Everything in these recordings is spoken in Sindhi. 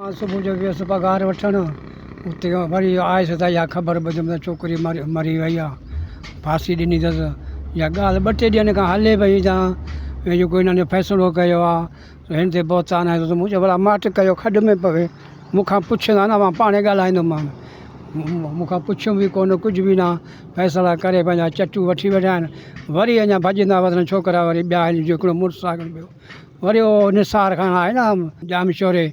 مان صبح جو ويس پگهار وٺڻ، اتي وري آيس ته اها خبر ٻڌم ته ڇوڪري مري وئي آ، ڦاسي ڏني اٿس. اها ڳالهه ٻه ٽي ڏينهن کان هلي پئي ته هي جيڪو هنن جو فيصلو ڪيو آ، سو هن تي بهتان هنيو اٿس. مون چيو ڀلا ماٽ ڪيو کڏ ۾ پوي، مون کان پڇيندا نه مان پاڻهي ڳالهائيندومان. مون کان پڇيو به ڪونه ڪجهه به نه، فيصلا ڪري پنهنجا چٽون وٺي ويٺا آهن. وري اڃا ڀڄندا وڌن ڇوڪرا وري ٻيا هن جو هڪڙو مڙس آ ٻيو. وري او نثار خان آهي نه ڄامشوري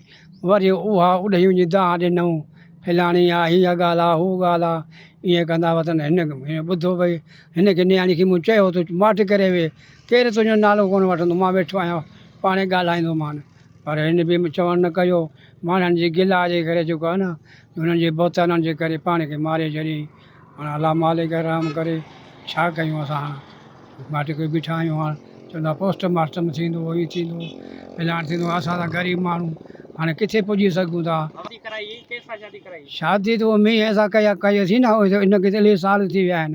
وري اها اڏهيون جي دانهن ڏنئون فلاڻي آ هيء ڳالهه آ هوء ڳالهه آ ائين ڪندا هئا تنهن هن هن ٻڌو ڀئي هن کي نياڻي کي مون چيو تو ماٺ ڪري ويهه ڪير تنهنجو نالو ڪونه وٺندو مان ويٺو آهيان پاڻهي ڳالهائيندومان پر هن به چوڻ نه ڪيو ماڻهن جي گلا جي ڪري جيڪو آهي نه انهن جي بهتانن جي ڪري پاڻ کي ماري ڇڏيائين. هاڻ الله مالڪ رحم ڪري ڇا ڪيون اسان ماٺ ڪري بيٺا آهيون هاڻ چون ٿا پوسٽ مارٽم ٿيندو هي ٿيندو فلاڻ ٿيندو اسان ته غريب ماڻهو هاڻي ڪٿي پڄي سگهون ٿا. شادي ته مينهن سان ڪئي ٿي نه ان کي ته الائي سال ٿي ويا آهن.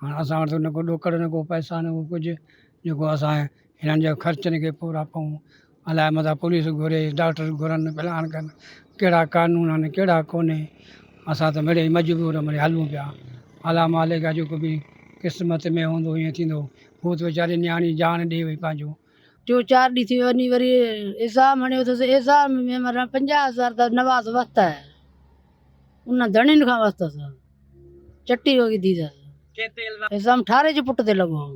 هاڻ اسان وٽ نه ڪو ڏوڪڙ نه ڪو پئسا نه ڪو ڪجهه جيڪو اسان هنن جا خرچن کي پورا پئون الاء متان پوليس گهري ڊاڪٽر گهرن فلان ڪن ڪهڙا قانون آهن ڪهڙا ڪونهي اسان ته مڙيئي مجبور مڙيئي هلون پيا الاء مالڪ جيڪو به قسمت ۾ هوندو ايئن ٿيندو هو ته ويچاري نياڻي جان ڏئي وئي پنهنجو جو چار ڏينهن ٿي وڃي وري ايزام هڻيو اٿس ايزام ۾ مرڻ پنجاهه هزار ته نواز وستا هي انهن ڌڻين کان وستس چٽي هو وڌي اٿس ايزام ٺاري جي پٽ تي لڳو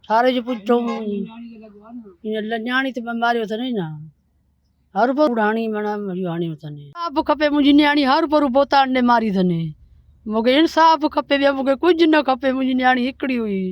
ٺاري جي پٽ ائين لڃاڻي ته ماريو اٿن نه هر پر هاڻي منا هاڻيو اٿن اب کپي منهنجي نياڻي هر پر بوتان ڏي ماري اٿن مونکي انصاف کپي ٻيو مونکي ڪجهه نه کپي منهنجي نياڻي هڪڙي هئي